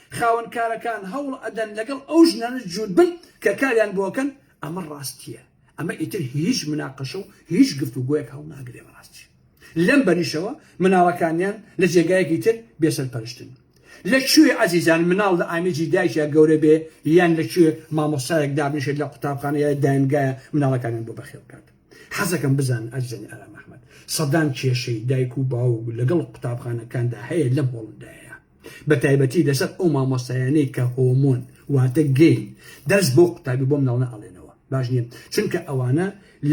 خاوەن کارەکان هەوڵ ئەدەن لەگەڵ ئەو ژنانە جووت بن کە کاریان بۆ ئەکەن، ئەمە ڕاستییە، ئەمە ئیتر هیچ مناقەشە و هیچ گفتوگۆیەک هەڵناگرێ بە ڕاستی. لەم بەریشەوە مناڵەکانیان لە جێگایەکی تر بێ سەرپەرشتن. لە کوێ ئەزیزان مناڵ لە ئامێزی دایکیا گەورە بێ یان لە کوێ مامۆستایەک دابنیشێت لە قوتابخانە یا داینگایا مناڵەکانیان بۆ بەخێو بکات؟ حەزەکەم بزانن ئازیزانی ئارام ئەحمەد سەدان کێشەی دایک و باوک لەگەڵ قوتابخانەکاندا هەیە لەم هۆڵندایە. بەتایبەتی لەسەر ئەو مامۆستایانەی کە هۆمۆن واتە گەین دەرس بۆ قوتابی بۆ مناڵنە ئەڵێنەوە باش نیە چونکە ئەوانە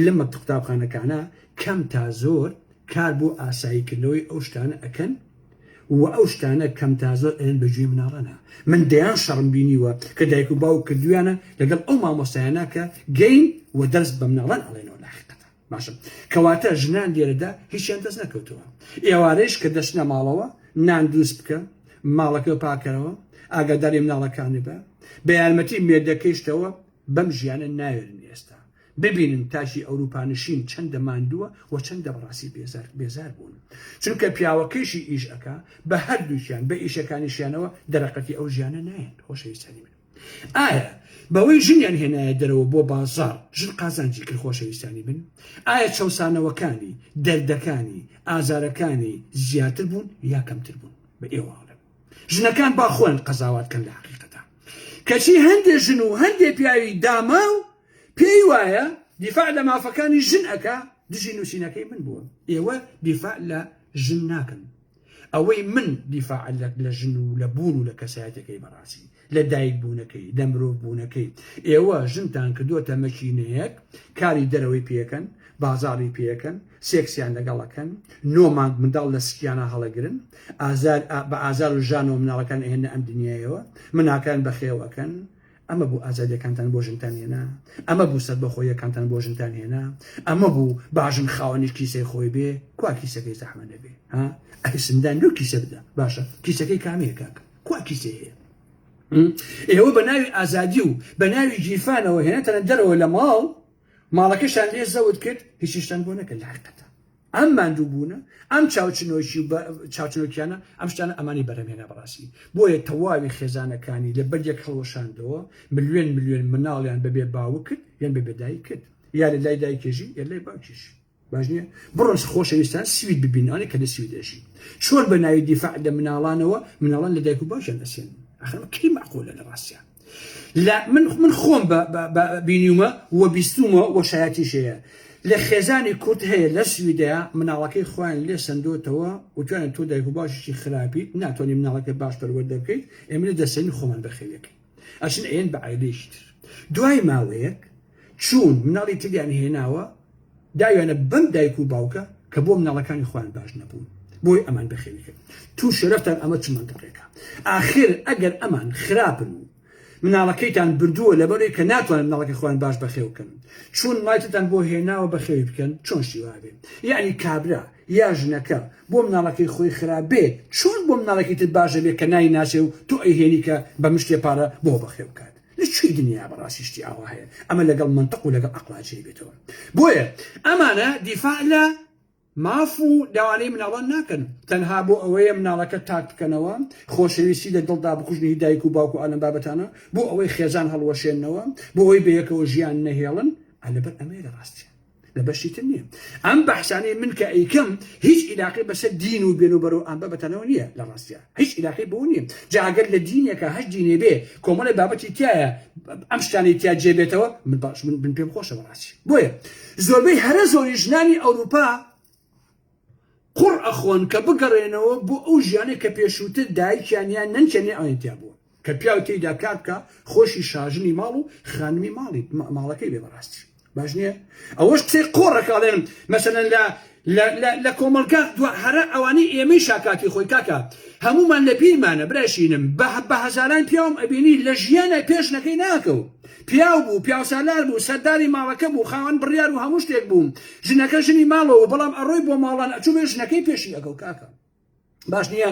لەمەبت قوتابخانەکانە کەم تا زۆر کار بۆ ئاسایی کردنەوەی ئەو شتانە ئەکەن و ئەو شتانە کەم تا زۆر ئەیەن بە گوێی مناڵانە من دەیان شەڕم بینیوە کە دایک و باوک کردویانە لەگەڵ ئەو مامۆستایانە کە گەین و دەرس بە مناڵان ئەڵێنەوە لاحقەتان. باشە کەواتە ژنان لێرەدا هیچیان دەست نەکەوتەوە ئێوارەیش کە دەچنە ماڵەوە نان دروست بکە ماڵەکە پاکەرەوە ئاگاداری مناڵەکانی بە بە یارمەتی مێردەکەیشتەوە بەم ژیانە ناوێرن ئێستا ببینن تاکی ئەوروپانشین چەندە ماندووە و چەندە بەڕاستی بێزار بێزار بوون چونکە پیاوەکەیشی ئیش ئەکا بە هەردووکیان بە ئیشەکانیشیانەوە دەرەقەتی ئەو ژیانە نایەن خۆشەویستانی من ئایا بەوەی ژنیان هێنایە دەرەوە بۆ بازاڕ ژن قازانجی کرد خۆشەویستانی بن؟ ئایا چەوسانەوەکانی، دەردەکانی، ئازارەکانی زیاتر بوون یا کەمتر بوون؟ بە ئێوە ئەڵێم ژنەکان با خۆیان قەزاوات کەن لە حەقیقەتا کەچی هەندێ ژن و هەندێ پیاوی داماو پێی وایە دیفاع لە مافەکانی ژن ئەکا دژی نووسینەکەی من بووە ئێوە دیفاع لە ژن ناکەن ئەوەی من دیفاع لە ژن و لە بوون و لە کەسایەتەکەی بەڕاستی لە دایک بوونەکەی لە مرۆڤ بوونەکەی ئێوە ژنتان کردووەتە مەکینەیەک کاری دەرەوەی پێکەن بازاڕی پێکەن سێکسیان لەگەڵەکەن نۆ مانگ منداڵ لە سکیانە هەڵەگرن ئازار بە ئازار و ژانەوە مناڵەکان ئەهێنە ئەم دنیایەوە مناکان بەخێوەکەن ئەمە بوو ئازادیەکانتان بۆ ژنتان هێنا ئەمە بوو سەر بەخۆیەکانتان بۆ ژنتان هێنا ئەمە بوو باژن خاوەنی کیسەی خۆی بێ کوا کیسەکەی زەحمە نەبێ ها ئەی سندان لەو کیسە بدە باشە کیسەکەی کامەیە کاک کوا کیسەی هەیە ئێوە بە ناوی ئازادی و بە ناوی گیرفانەوە هێنێتەنە دەرەوە لە ماڵ ماڵەکەشان لێ زەوت کرد هیچیشتان بۆ نەکرد لە حقەتە ئەم ماندووبوونە، ئەم چاوچنۆکی و چاوچنۆکیانە، ئەم شتانە ئەمانی بەرهەمهێنا بەڕاستی، بۆیە تەواوی خێزانەکانی لە بەرگێک هەڵوەشاندەوە، ملوێن ملوێن مناڵیان بەبێ باوک کرد یان بەبێ دایک کرد، یا لە لای دایکێ ژین یا لای باوکیش. باش نییە؟ بڕۆن خۆشەویستان سوید ببینن، ئەوانەی کە لە سوید ئەژین. چۆن بە ناوی دیفاع لە مناڵانەوە، مناڵان لە دایک و باوکیان ئەسێنن؟ ئاخر ئەمە کەی مەعقولە لە ڕاستیان؟ لە من من خۆم بە بە بینیومە و بیستومە و شایەتیش هەیە لە خێزانی کورد هەیە لە سویدەیە مناڵەکەی خۆیان لێ سندۆتەوە وتوانە تۆ دایک و باشیشی خراپیت ناتوانانی مناڵەکە باش پەروەردە بکەیت ئێمە لە دەسەین خۆمان بەخێویەکەی ئەچن ئەیەن بە عیلەیشتر دوای ماوەیەک چوون مناڵی تریان هێناوە داویانە بەم دایک و باوکە کە بۆ مناڵەکانی خۆیان باش نەبوون بۆی ئەمان بەخێوی کرد تو شەرفتان ئەمە چ منتەقێکە ئاخر ئەگەر ئەمان خراپن و مناڵەکەیتان بردووە لەبەرەی کە ناتوانن مناڵەکە خۆیان باش بەخێوکەن چون مایتتان بۆ هێناوە بەخێوی بکەن چۆن شیوابێ یعنی کابرا یا ژنەکە بۆ مناڵەکەی خۆی خراپ بێ چۆن بۆ مناڵەکەی تر باشە بێ کە نای ناچێ و تۆ ئەیهێنی کە بە مشتێ پارە بۆ بەخێو بکات لە کوێی دنیا بەڕاستی شتی ئاوا هەیە ئەمە لەگەڵ مەنتق و لەگەڵ ئەقڵا جێی بێتەوە بۆیە ئەمانە دیفاع لە ماف و داوانەی مناڵان ناکەن تەنها بۆ ئەوەیە مناڵەکە تاک بکەنەوە خۆشەویستی لە دڵدا بکوژنی هی دایک و باوک و ئالەم بابەتانە بۆ ئەوەی خێزان هەڵوەشێنەوە بۆ ئەوەی بەیەکەوە ژیان نەهێڵن ئەلەبەر ئەمەیە لە ڕاستیە لە بەشی تر نییە ئەم بەحسانەی من کە ئەیکەم هیچ عیلاقی بەسەر دین و بێن و بەرەو ئەمبە بەتەنەوە نییە لە ڕاستە هیچ عیلاقی بۆ نییە جاگەر لە دینێکە هەش دینێ بێ کۆمەڵی بابەتی تایە ئەم شتانی تیا جێبێتەوە من باش من بن پێم خۆشە بەڕاستی بۆیە زۆربەی هەرە زۆری ژنانی ئەوروپا قوڕ ئەخۆن کە بگەڕێنەوە بۆ ئەو ژیانەی کە پێشووتر دایکیان یان نەنکیان ئەویان تیا بووە کە پیاو تێیدا کار بکا خۆشی شاژنی ماڵ و خانمی ماڵی ماڵەکەی بێ بەڕاستی باش نییە ئەوەش قسەی قۆڕەکە ئەڵێن مەسەن لە لە کۆمەلگا دو هەرە ئەوانەی ئێمەی شاکاتی خۆی کاکە هەمومان لە بیرمانە براشینم بە بە هەزاران پیاوم ئەبینی لە ژیانە پێشنەکەی ناکەو پیاو بوو، پیاوسالار بوو، سەرداری ماڵەکە بوو، خاوەن بڕیار و هەموو شتێک بوو. ژنەکە ژنی ماڵەوە بوو، بەڵام ئەڕۆی بۆ ماڵان ئەچووبێ ژنەکەی پێشی ئەکەو کاکە. باش نییە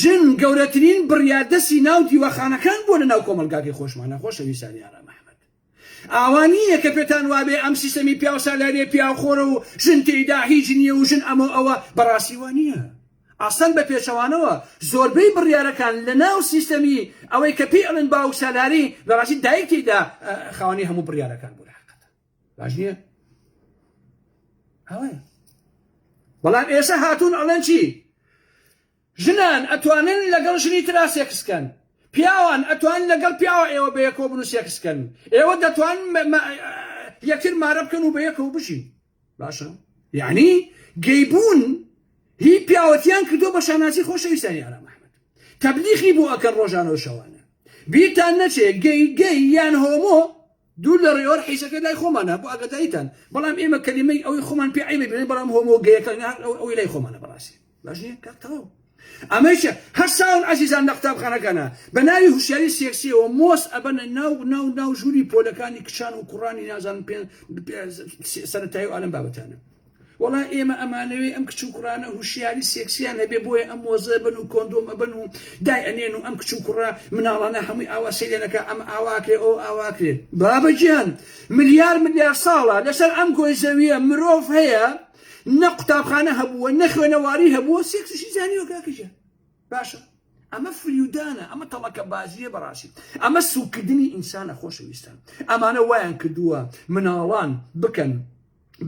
ژن گەورەترین بڕیاردەسی ناو دیوەخانەکان بووە لە ناو کۆمەڵگاکەی خۆشمانا خۆشەویستانی ئارام ئەحمەد. ئاوا نییە کە پێتان وابێ ئەم سیستەمی پیاوسالاریە پیاوخۆرە و ژن تێیدا هیچ نییە و ژن ئەمە و ئەوە، بەڕاستی وا نییە. ئەسەن بە پێچەوانەوە زۆربەی بڕیارەکان لە ناو سیستەمی ئەوەی کە پێی ئەڵێن باوک سالاری لە ڕاستی دایک تێیدا خاوەنی هەموو بڕیارەکان بوو لە حەقەت باش نییە ئەوەیە بەڵام ئێسە هاتوون ئەڵێن چی ژنان ئەتوانن لەگەڵ ژنی ترا سێکسکەن پیاوان ئەتوان لەگەڵ پیاوە ئێوە بە یەکۆ بن و سێکسکەن ئێوە دەتوان یەکتر مارە بکەن و بە یەکەوە بژین باشە یعنی گەیبوون هی پیاوەتیان کردو بە شانازی خۆشەویستانی ئارام ئەحمد تەبلیغی بۆ ئەکەن ڕۆژانە و شەوانە بیرتان نەچێ گەی گەی یان هۆمۆ دوور لە ڕێوەر حیسەکە لای خۆمانە بۆ ئەگەدایتان بەڵام ئێمە کەلیمەی ئەوەی خۆمان پێ عیبێ بڵێن بەڵام هۆمۆگەیەکە ئەوەی لای خۆمانە بەڕاستی باش نییە کاک تەواو ئەمەیشە هەر ساون ئازیزان لە قوتابخانەکانە بە ناوی هوشیاری سێکسیەوە مۆس ئەبەنە ناو ناو ناو ژووری پۆلەکانی کچان و کوڕانی نازان پێ سەرەتایی و ئالم بابەتانە وڵا ئێمە ئەمانەوێ ئەم کچ و کوڕانە هوشیاری سێکسیان هەبێ بۆیە ئەم مۆزە بن و کۆندۆم ئەبن و دای ئەنێن و ئەم کچ و کوڕە مناڵانە هەمووی ئاوا سەیرێنەکە ئەم ئاواکرێ ئەو ئاواکرێ بابەجیان ملیار ملیار ساڵە لەسەر ئەم گۆی زەویە مرۆڤ هەیە نە قوتابخانە هەبووە نە خوێنەواری هەبووە سێکسیشی زانیوە کاکە گیان باشە ئەمە فریودانە ئەمە تەڵەکە بازیە بەڕاستی ئەمە سوکردنی ئینسانە خۆشەویستان ئەمانە وایان کردووە مناڵان بکەن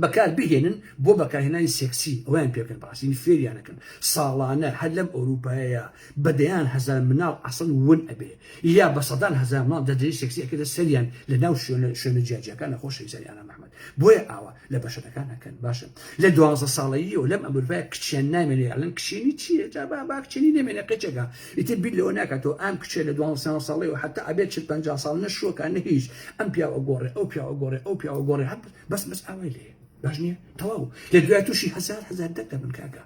بەکار بهێنن بۆ بەکارهێنانی سێکسی ئەویان پێکەن باسین فێریانەکەن ساڵانە هەر لەم ئەوروپایەیە بەدەیان هەزار مناڵ ئەسڵ ون ئەبێ یا بە سەدان هەزار مناڵ دەدرێ سێکسیەکەدە سەریان لە ناو شوێنە شوێنە جیاجیەکان نەخۆشەویستانی ئانا محمد بۆیە ئاوا لە بەشەرەکان نەکەن باشە لە دوازە ساڵەییەوە لەم ئەمروای کچیان نامێنێ ئەلەن کشێنی چیە جا با با کچێنی نامێنێ قچەکە ئیتر بیر لەوە ناکاتەوە ئام کچێ لە دوازە ساڵەیەوە حتا ئەبێت چل پنج ساڵ نەشوەکە نە هیچ ئەم پیاوە گۆڕێ ئەو پیاوە گۆڕێ ئەو پیاوە گۆڕێ هەب بەس بەس ئاوای لێ باش نییە تەواو لە دوای تووشی هزار هزار دەک دەبن کاکە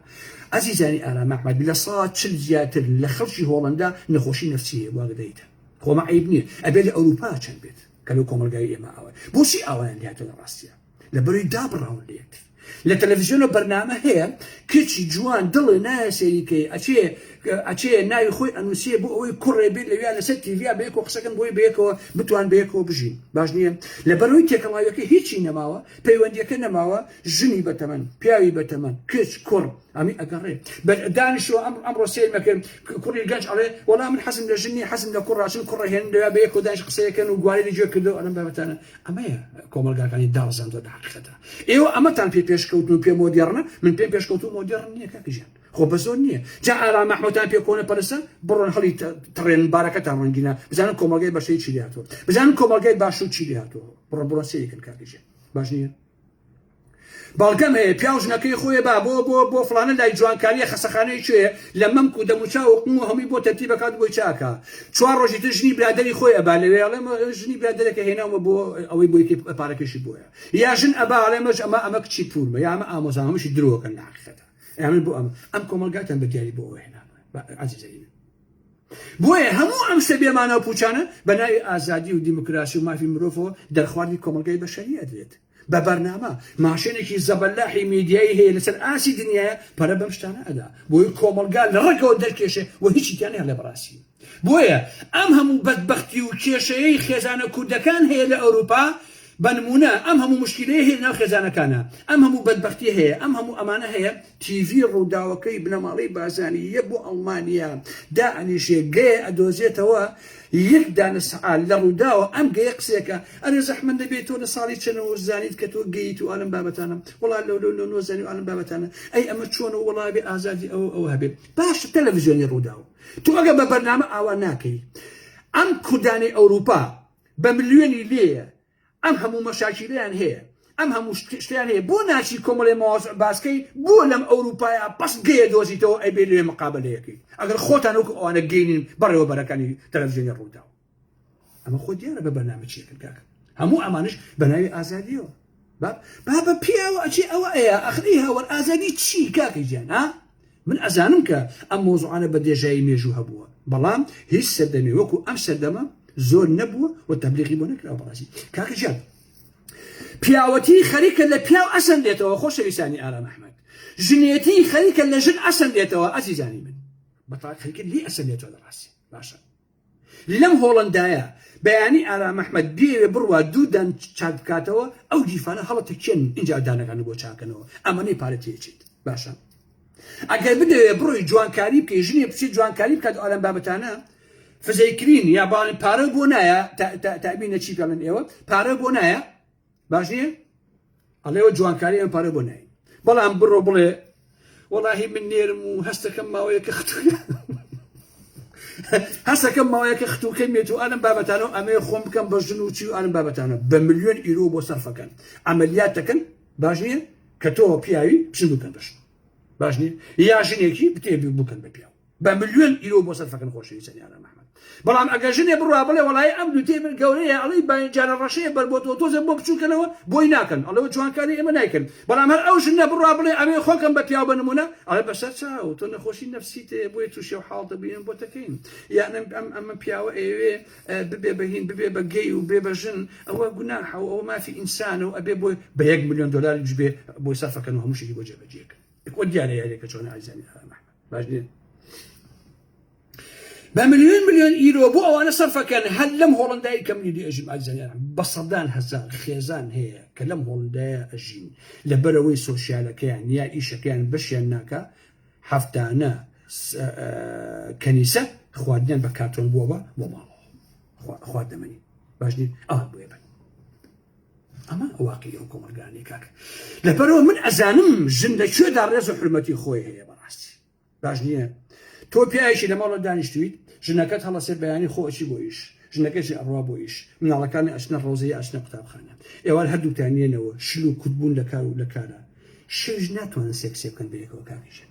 ئازیزانی ئارام ئەحمەد لە سا چل زیاتر لە خەڵکی هۆڵندا نەخۆشی نفسی هەیە واگدەیتە خۆمە عیب نییە ئەبێت لە ئەوروپا چەند بێت کە لەو کۆمەڵگای ئێمە ئاوای بۆچی ئاوایان لاتە لە ڕاستە لە بەروی دابڕاون لێت لە تەلەڤزیۆن و بەرنامە هەیە کچی جوان دڵێ نایە سەریکەی ئەچێ ئەچێ ناوی خۆی ئەنووسێ بۆ ئەوەی کوڕێ بێت لەویا لەسەر تیڤیا بەیەکەوە قسەکەن بۆی بەیەکەوە بتوان بەیەکەوە بژین باش نییە لە بەرەوەی تێکەڵاویەکە هیچی نەماوە پەیوەندیەکە نەماوە ژنی بەتەمەن پیاوی بەتەمەن کچ کوڕ ئەمەی ئەگەڕێ بە دانیشتوە ئەم ئەمڕۆ سێمەکەم کوڕی گەنج ئەڵێ وەڵام من حەزم لە ژنی حەزم لە کوڕاچن کوڕە هێن لە بە یەکۆ دانیش قسەیەکەن و گواری لە جوێ کردو ئەلم بابەتانە ئەمەیە کۆمەلگاکانی داڕزاندوە لە حقیقەتە ئێوە ئەمەتان پێ پێشکەوتن و پێ مۆدێڕنە من پێم پێشکەوت و مۆدێڕن نییە کاکژیان خۆ بە زۆر نییە جا ئارام مححموتان پێ کۆنە پەرسە بڕۆن هەڵی تڕێن بارەکەتان ڕەنگینە بزانن کۆمەلگای بەشەی چی لاتوە بزانن کۆمەلگای باشو چی لاتوە بڕە بڕۆ سەیەکن کاکژێن باش نییە بەڵگەم هەیە پیاو ژنەکەی خۆێ با بۆ بۆ بۆ فلانە لای جوانکاریە خەسەخانەی کوێ لە مەمک و دەموچا و قم و هەمووی بۆ تەرتی بەکات بۆی چاکە چوار ڕۆژی تر ژنی برادری خۆی ئەبا لەوێ ئەڵێ ژنی برادەرەکە هێناومە بۆ ئەوەی بۆی پارەکەشی بۆیە یا ژن ئەبا ئەڵێ مەش ئەمە ئەمە کچی پورمە یا ئەمە ئامۆزان هەمشی درۆکەن ناخەتە ئەمن بۆ ئەم ئەم کۆمەلگاتان بە دیاری بۆ ئەوە هێنا عزیزەکەی بۆیە هەموو ئەم شتە بێ مانا و پووچانە بە ناوی ئازادی و دیموکراسی و مافی مرۆڤەوە دەرخواردی کۆمەڵگای بەشەری ئەدرێت بە بەرنامە ماشێنێکی زەبەلاحی میدیایی هەیە لەسەر ئاسی دنیاە پەرە بەم شتانە ئەدا بۆی کۆمەڵگا لە ڕەگەوە دەرکێشێ و هیچی تیان هەڵێ بەڕاستی بۆیە ئەم هەموو بەدبەختی و کێشەیەی خێزانە کوردەکان هەیە لە ئەوروپا بە نمونە ئەم هەموو مشکلەیە هەیە لەناو خێزانەکانە ئەم هەموو بەدبەختی هەیە ئەم هەموو ئەمانە هەیە تیڤی رووداوەکەی بنەماڵەی بارزانی یە بۆ ئەڵمانیا دائەنیشێ گەیە ئەدۆزێتەوە یەک دانە سەعات لە رووداوە ئەم گەیە قسەکا ئەرێ زەحمەت نەبێ تۆ لە ساڵی چەنەوە زانیت کە تۆ گەیت و ئالەم بابەتانە وەڵا لەو لەو لەو نۆ زانی و ئالەم بابەتانە ئەی ئەمە چۆنە و وەڵا بێ ئازادی ئەوە ئەوە هەبێ باش تەلەڤزیۆنی رووداو تۆ ئەگە بە بەرنامە ئاوا ناکەی ئەم کوردانەی ئەوروپا بە ملیۆنی لێیە ئەم هەموو مەشاکیلەیان هەیە ئەم هەموو شتیان هەیە بۆ ناچی کۆمەڵێ ماوەز باسکەی بۆ لەم ئەوروپایا بەس گەیە دۆزیتەوە ئەبێ لێ مقابلەیەکەی ئەگەر خۆتان وەکو ئەوانە گەینین بەڕێوەبەرەکانی تەلەڤزیۆنی ڕووداو ئەمە خۆ دیارە بە بەرنامە چیەکرد کاکە هەموو ئەمانش بە ناوی ئازادیەوە بابە پیاوە ئەچی ئەوە ئەیە ئەخری هاوەر ئازادی چی کاکە گیان ها من ئەزانم کە ئەم مەوزوعانە بە دێژایی مێژوو هەبووە، بەڵام هیچ سەردەمێ وەکو ئەم سەردەمە زۆر نەبووە و تەبلیغی بۆ نەکراوە بەڕاستی کاکە گیان پیاوەتی خەریکە لە پیاو ئەسەندێتەوە خۆشەویستانی ئارام ئەحمەد ژنێتی خەریکە لە ژن ئەسەندێتەوە ئەزیزانی من بەتاق خەریکە لێ ئەسەندێتەوە لە ڕاستی باشە لەم هۆڵەندایە بەیانی ئارام ئەحمەد بیەوێ بڕوات دوو دان چاک بکاتەوە ئەو گیفانە هەڵەتە کێن ئینجا دانەکان بۆ چاکەنەوە ئەمەنەی پارە تێچیت باشە ئەگەر بدەوێ بڕۆی جوانکاری بکەی ژنێ بچێت جوانکاری بکات ئەلەم بابەتانە فزەیکرین یا باڵی پارە بۆ نایە تابینە چی پێڵن ئێوە پارە بۆ نایە باش نییە ئەڵێ وە جوانکاری ئەم پارە بۆ نای بەڵام بڕۆ بڵێ وەڵاهی من نێرم و هەستەکەم ماوەیەکە ختوە هەستەکەم ماوەیەکە ختوکە مێت و ئالم بابەتانە و ئەمێ خۆم بکەم بە ژن و چی و ئالم بابەتانە بە ملیۆن ئیرۆ بۆ سەرفەکەن ئەمەلیات دەکەن باش نییە کە تۆ پیاوی پشن بکەن بەش باش نییە یا ژنێکی بتێبی بکەن بە پیاو بە ملیۆن ئیرۆ بۆ سەر فەکن خۆشەوی سەریانە محمد بەڵام ئەگە ژنێ بڕوا بڵێ وڵی ئەم دوتێ من گەورەیە ئەڵی باینجارە ڕەشەیە بەر بۆ تۆ تۆزە بۆ بچووکەنەوە بۆی ناکەن ئەڵەوە جوانکاری ئێمە نایکەن بەڵام هەر ئەو ژنە بڕوا بڵێ ئەوێ خۆکەم بە پیاو بنمونە ئەڵێ بەسەر چاو تۆ نەخۆشی نفسی تێ بۆی تووشێ و حاڵ دەبیێن بۆ تەکەین یان ئەم ئەمە پیاوە ئەوێ ببێ بەهین ببێ بە گەی و بێ بە ژن ئەوە گوناحە و ئەوە مافی ئینسانە و ئەبێ بۆی بە یەک میلیۆن دلار جبێ بۆی سەرفەکەن و هەمووشی بۆ جێبەجێکە وە دیارە یارێکە چۆن ئازانی ئامە باشێ بە ملیۆن ملیۆن ئیرۆ بۆ ئەوانە سەرفەکەن هەر لەم هۆڵندای کەم نیدی ئەژیم ئازانیان بە سەدان هەزار خێزان هەیە کە لەم هۆڵندایە ئەژین لە بەرەوەی سۆسیالەکەیان یا ئیشەکەیان بەشیان ناکە هەفتانە کەنیسە خواردنیان بە کاتۆن بووە بۆ ماڵەوە خواردەمەنی باش ئەوان بێ بن ئەمە واقعی ئەو کۆمەلگانەی کاکە لەپەرەوە من ئەزانم ژن لە کوێدا ڕێز و حرمەتی خۆی هەیە بەڕاستی باش نییە تۆ پیاوێکی لە ماڵە دانیشتویت ژنەکەت هەڵەسێ بەیانی خۆچی بۆ ئیش ژنەکەشی ئەڕوا بۆ ئیش مناڵەکانی ئەچنە ڕۆزەی ئەچنە قوتابخانە ئێوار هەردووکتان نیێنەوە شل و کوتبوون لە کار و لە کارە شوژ ناتوانن سێکسێ بکەن بەیەکەوە کاکیژن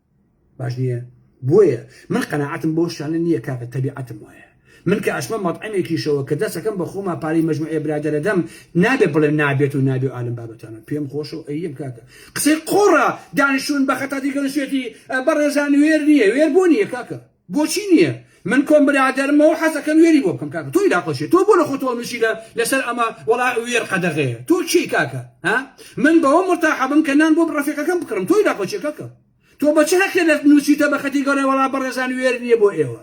باش نییە بۆیە من قەناعەتم بۆ شتانە نییە کاکە تەبیعەتم وایە من کە ئەچمە مەتعەمێکیشەوە کە دەسەکەم بە خۆما پارەی مەجموعێ برادەر ئەدەم نابێ بڵێم نابێت و نابێ ئالم بابەتانە پێم خۆشە و ئەیەم کاکە قسەی قۆڕە دانیشتوون بە خەتاتی گەنسێتی بەڕێزان وێر نییە وێر بۆ نییە کاکە بۆچی نیە من کۆم برادەرمەوە حەزەکەم وێری بۆ بکەم کاکە تۆی داقەشێ تۆ بۆ لە خۆتەوە مشی لە لەسەر ئەمە وەڵا وێر قەدەغەیە تۆ چی کاکە ها من بەوە مرتاحەبم کە نان بۆ بڕەفێکەکەم بکڕم تۆی داقەشێ کاکە تۆ بە چ هەقێ لە نووسیتە بە خەتی گەورە وەڵا بەڕێزان وێر نییە بۆ ئێوە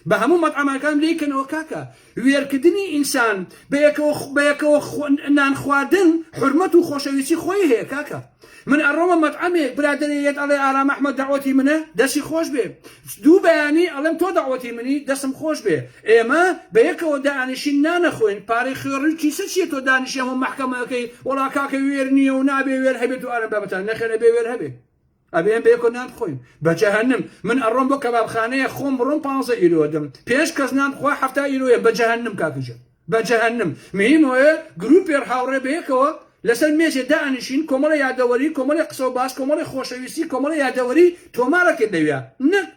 بە هەموو مەتعەمەکان لێکەنەوە کاکە وێرکدنی ئینسان بە یەکەوە بە یەکەوە نان خواردن حورمەت و خۆشەویستی خۆی هەیە کاکە من ئەڕۆمە مەتعەمێک برادەرێ یەت ئەڵێ ئارام ئەحمەد دەعوەتی منە دەسی خۆش بێ دوو بەیانی ئەڵێم تۆ دەعوەتی منی دەسم خۆش بێ ئێمە بە یەکەوە دانیشین نانەخۆین پارەی خوێڕی و کیسە چیە تۆ دانیشی هەموو مەحکەمە ئەکەی وەڵا کاکە وێر نیە و نابێ وێر هەبێت و ئارام بابتان نەخێر ئەبێ وێر هەبێ ئەبێ ئێمە بەیەکەوە نان بخۆین بە جەهەنم من ئەڕۆم بۆ کەبابخانەیە خۆم بڕۆم پ ئیرۆ دەم پێنج کەس نان بخوا هەفتا ئیرۆیە بە جەهەنم کاکەجە بە جەهەنم مهمەیە گروپێر هاوڕێ بەیەکەوە لەسەر مێزێ دانیشین کۆمەڵە یادەوەری کۆمەڵی قسە و باس کۆمەڵی خۆشەویستی کۆمەڵی یادەوەری تۆمارەکەین لەویا نەک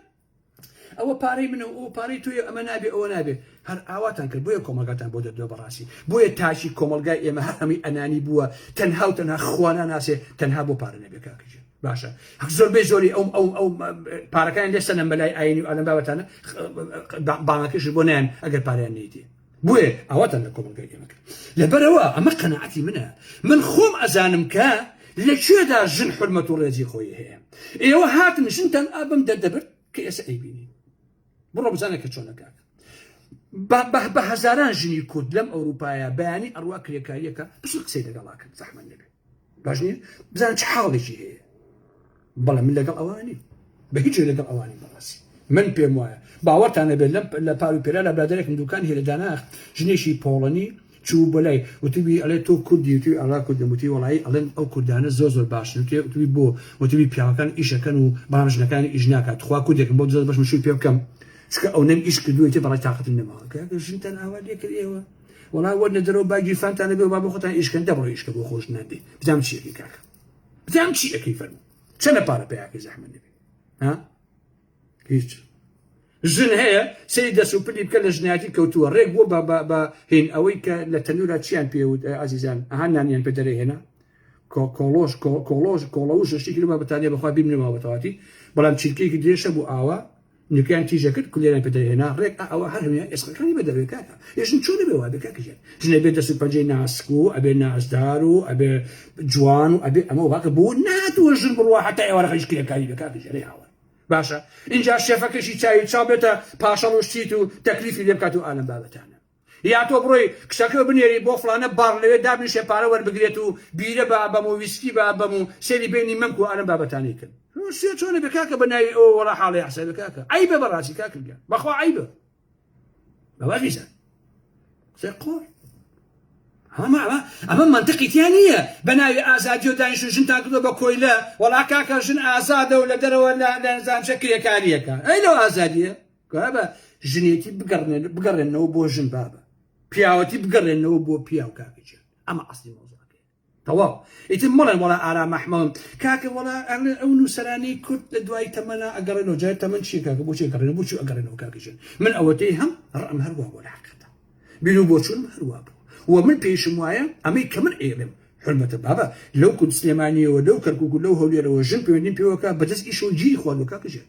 ئەوە پارەی منە و ئەوە پارەی تۆیە ئەمە نابێ ئەوە نابێ هەر ئاواتان کرد بۆیە کۆمەڵگاتان بۆ دەدوێ بەڕاستی بۆیە تاکی کۆمەلگای ئێمە هەر هەمووی ئەنانی بووە تەنها و تەنها خوانە ناسێ تەنها بۆ پارە نەبێ کاکەژێ باشە زۆربەی زۆری ئەو ئەو ئەو پارەکان لێ سەنەم بەلای ئاینی و ئەلم بابەتانە بانەکەش بۆ نیان ئەگەر پاریان نیتی بۆیە ئاواتان لە کۆمەڵگای ئێمە کرد لەبەرەوە ئەمە قەنەعەتی منە من خۆم ئەزانم کە لە کوێدا ژن حرمەت و ڕێزی خۆی هەیە ئێوە هاتن ژنتان ئابم دەردەبرد کە ئێستا ئەیبینی بڕۆ بزانە کە چۆنەکات بە هەزاران ژنی کورد لەم ئەوروپایە بەیانی ئەڕوا کرێکاریەکە بچ قسەی لەگەڵاکەن زەحمە نەبێت باش نییە بزان چ حاڵێکی هەیە بەڵێ من لەگەڵ ئەوانی بە هیچ لەگەڵ ئەوانی بەڕاستی من پێم وایە باوەتانە بێت لەم لە پار و پێرا لە برادێکم دوکان هێلە داناخ ژنێکی پۆڵەنی چوو بۆ لای وتبی ئەڵێ تۆ کوردی وتی ئەڵا کوردم وتی وڵایی ئەڵێن ئەو کوردانە زۆر زۆر باشن وتی وتبی بۆ وتبی پیاوەکان ئیشەکەن و بەڵام ژنەکان ئیش ناکات خوا کوردێکم بۆ زۆر بەش مشوی پێ بکەم چکە ئەو نەم ئیش کردوێتی بەڵای تااقتن نەماوە ژنتان ئاوا لێکرد ئێوە وەڵا وەرنە دەرەوە با گیرفانتان نەبێ و با بۆ خۆتان ئیشکەن دەبڕۆ ئیشکە بۆ خۆش نادێ بزانم چی ئەکەی کاکە بزانم چی ئەەکەی فەرمو چەنە پارە پیاکەی زەحمەت نەبێ ها هیچ ژن هەیە سری دەست و پلی بکە لە ژناتی کەوتووە ڕێک بۆ بە بە هین ئەوەی کە لە تەنورا چیان پێوت ئازیزان ئەها نانیان پێ دەرە هێنا کۆڵۆش کۆڵۆژ کۆڵەوش شتێکی لەمە بەتانیا بەخوا بیم نەماوەتەواتی بەڵام چیلکەیەکی درێژە بوو ئاوا نکەیان تیژە کرد کولێران پێ دەرهێنا ڕێک ئا ئەوە هەر هەموان ئێسقەکانی بە دەرێ کاکە یە ژن چۆنە بێ وابێ کاکە ژێن ژنە بێ دەست و پەنجەی ناسک و ئەبێ نازدار و ئەبێ جوان و ئەبێ ئەمە واکە بۆ ناتوە ژن بڕوا حتا ئێوە ڕەخەیش کرێکاری بێ کاکە ژێرەی هاوە باشە اینجا شێفەکەشی چاوی چاو بێتە پاشەڵ و شتیت و تەکلیفی لێ بکات و ئالەم بابەتانە یا تۆ بڕۆی کچەکە بنێری بۆ فڵانە باڕ لەوێ دابنیشێ پارە وەربگرێت و بیرە بە بەم و ویسکی بە بەم و سەیری بینی مەمک و ئارەم بابەتانەی کرد روسیا چۆنە بێ کاکە بە ناوی ئەوە وەڵا حاڵی حسابی کاکە عەیبە بەڕاستی کاکە گیان بەخوا عەیبە بەوا غیزان قسەی قۆر ئەمە ئەمە ئەمە منطقی تیا نییە بە ناوی ئازادی و دانیش و ژنتان کردو بە کۆیلە وەڵا کاکە ژن ئازادە و لە دەرەوە لە لەزانچە کرێکاریەکە ئەی لەو ئازادیە بابە ژنێتی بگەڕێنەوە بۆ ژن بابە پیاوەتی بگەڕێنەوە بۆ پیاو کاکەجیان ئەمە ئەستی مۆزەکە تەواو ئیتر مڵێن وڵا ئارا مەحمەم کاکە وڵا ئەو نووسەرانی کورد لە دوای تەمەنا ئەگەڕێنەوە جای تەمەەن چی کاکە بۆ چێگەڕێن بۆ چی ئەگەڕێنەوە کاکەجیان من ئەوەتەی هەم ڕم هەروە بۆ لاقەتە بیر و بۆچون هەروە بوو و من پێشم وایە ئەمەی کە من ئێڵێم حرمەتە بابە لەو کورد سلێمانیەوە لەو کەرکک و لەو هەولێرەوە ژن پێوەنی پێوەکە بەدەست ئیشەوە گیری خواردوە کاکەجیان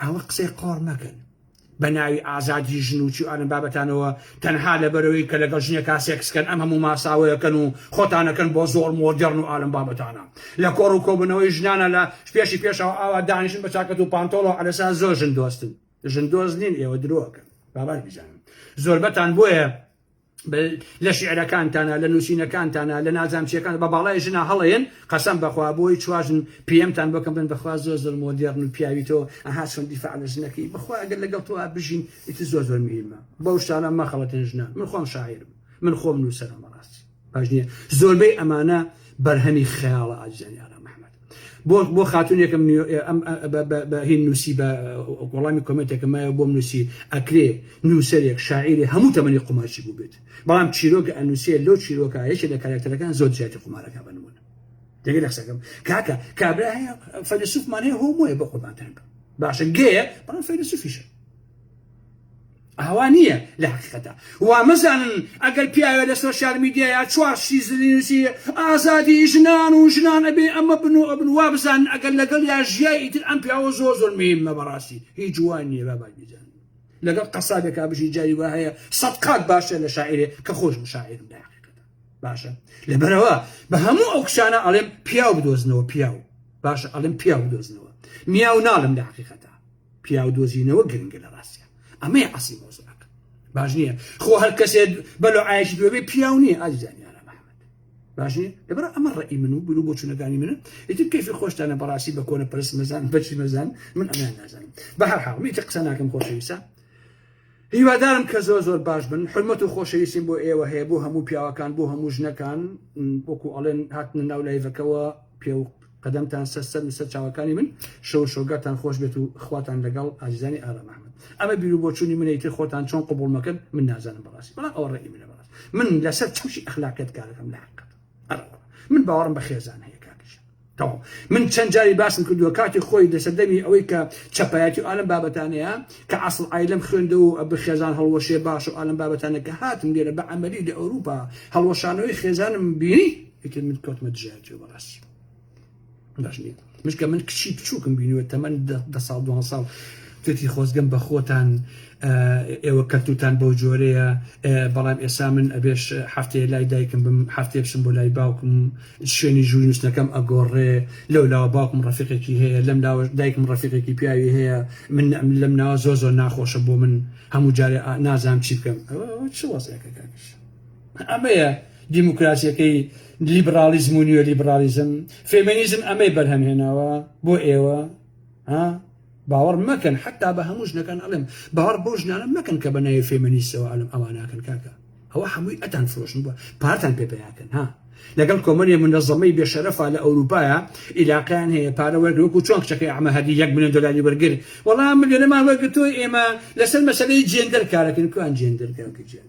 ئاوا قسەی قۆڕ مەکەن بە ناوی ئازادی ژن و چی ئەم بابەتانەوە تەنها لەبەرەوەی کە لەگەڵ ژنێکا سێکسکەن ئەم هەموو ماساوەیەکەن و خۆتانەکەن بۆ زۆر مۆدێڕن و ئالم بابەتانە لە کۆڕ و کۆبنەوەی ژنانە لە پێشی پێشەوە ئاوا دانیشن بە چاکەت و پانتۆڵەوە ئەلەسا زۆر ژن دۆستن ژن دۆست نین ئێوە درۆکەن بابات بزانم زۆربەتان بۆیە لە شیعرەکانتانا لە نوسینەکانتانا لە نازامچیەکان بە باڵای ژنا هەڵێن قەسەم بەخوا بۆی چوار ژن پێم تان بۆ کەم بن بەخوا زۆر زۆر مۆدێڕن و پیاوی تۆ ئەها چۆن دیفاع لە ژنەکەی بەخوا ئەگەر لەگەڵ تۆ بژین ئیتر زۆر زۆر میرمە بەو شتانە مەخەڵەتێن ژنان من خۆم شاعیرم من خۆم نووسەرم بەڕاستی باش نییە زۆربەی ئەمانە بەرهەمی خەیاڵە ئازیزانی ئارام ئەحمەد بۆ بۆ خاتونێکم هین نووسی بە وەڵامی کۆمنتێکە مایە بۆم نووسی ئەکرێ نووسەرێک شاعیری هەموو تەمەنی قومارچی بووبێت بەڵام چیرۆکە ئەنووسێ لەو چیرۆکە یەکێ لە کارکتەرەکان زۆر جیاتی قومارەکە بنمون دەگە لە قسەکەم کاکە کابرا هەیە فەیلسوفمان هەیە هۆمۆیە بە قوربانتان باشە گەیە بەڵام فەیلسوفیشە ئاوا نییە لە حقیقەتە وامەزانن ئەگەر پیاوێ لە سۆسیال میدیایا چوار شیزنی نووسی ئازادی ژنان و ژنان ئەبێ ئەمە بن و ئەبن وا بزانن ئەگەر لەگەڵ یا ژیای ئیتر ئەم پیاوە زۆر زۆر مهمە بەڕاستی هیچ جوان نییە با باش بزان لەگەڵ قەسابێکا بژی جاری وا هەیە سەد قات باشە لە شاعرێ کە خۆش مشاعرم لە حقیقەتە باشە لەبەرەوە بە هەموو ئەو کچانە ئەڵێم پیاو بدۆزنەوە پیاو باشە ئەڵێم پیاو بدۆزنەوە میاو ناڵم لە حقیقەتە پیاو دۆزینەوە گرنگە لە ڕاستە ئەمەی عسی مۆزەکە باش نییە خۆ هەر کەسێت بەلو ئایشی دوێ پیاو نییە ئازیزانیان باشێ لەبەر ئەمە ڕێی من و بر و بۆچونەکانی منە ئیتر کەفی خۆشتانە بەڕاستی بە کۆنە پرس مەزان بەچی مەزان من ئەمیان نازانم بە هەر حاڵمی تە قسە ناکەم خۆشەویسە هیوادارم کە زۆر زۆر باش بن حرمەت و خۆشەویستیم بۆ ئێوە هەیە بۆ هەموو پیاوەکان بۆ هەموو ژنەکان وەکو ئەڵێن هاتنە ناو لایڤەکەەوە پێ قەدەمتان سەر سەر و سەر چاوەکانی من شەو شۆگاتان خۆش بێت و خواتان لەگەڵ ئازیزانی ئارام ئەحمد ئەمە بیرو بۆچوونی منە ئیتر خۆتان چۆن قبول مەکەن من نازانم بەڕاستی بەڵام ئەوە ڕێی منە بەڕاست من لەسەر چەوشی ئەخلاقیت کارەکەم لە حقت ئەرەوە من باوەڕم بە خێزان هەیە کاکیشە تەواو من چەند جاری باسم کردووە کاتی خۆی لە سەردەمی ئەوەی کە چەپایەتی و ئالم بابەتانەیە کە ئاسڵ ئایلم خوێندە و ئەبە خێزان هەڵوەشێ باش و ئالم بابەتانە کە هاتم لێرە بە عملی لە ئەوروپا هەڵوەشانەوەی خێزانم بینی ئیتر من کەوتمە دژایە جێ بەڕاستی باش نییە مشکە من کچی بچووکم بینوە تەمەن دە ساڵ دو ساڵ توێتی خۆزگەم بە خۆتان ئێوە کەلتوتان بەو جۆرەیە بەڵام ئێسا من ئەبێش هەفتەیە لای دایکم بم هەفتێ بچم بۆ لای باوکم شوێنی ژووی نووسنەکەم ئەگۆڕێ لەو لاوە باوکم ڕفیقێکی هەیە لەم لاوە دایکم ڕفیقێکی پیاوی هەیە من لەم ناوە زۆ زۆر ناخۆشە بۆ من هەموو جارێ نازام چی بکەم چ وەزەکەکانش ئەمەیە دیموکراسیەکەی لیبڕاڵیزم و نیۆلیبڕاڵیزم فێمێنیزم ئەمەی بەرهەم هێناوە بۆ ئێوە ها باوەڕ مەکەن حتا بە هەموو ژنەکان ئەڵێم باوەڕ بۆ ژنانە مەکەن کە بە ناوی فێمەنیستەوە ئەلم ئەوە ناکەن کاکە ئەوە هەمووی ئەتان فرۆشن بووە پارتان پێ پیاکەن ها لەگەڵ کۆمەنی منەزەمەی بێشەرەفا لە ئەوروپایا ئیلاقیان هەیە پارە وەرگوەکو چۆن کچەکەی ئەمە هەدی یەک ملیۆن دلاری وەرگر وەڵام ملیۆنەمان وەرگتۆ ئێمە لەسەر مەسلەی جێندەر کارەکەن کوان جێندەر کاکە جێن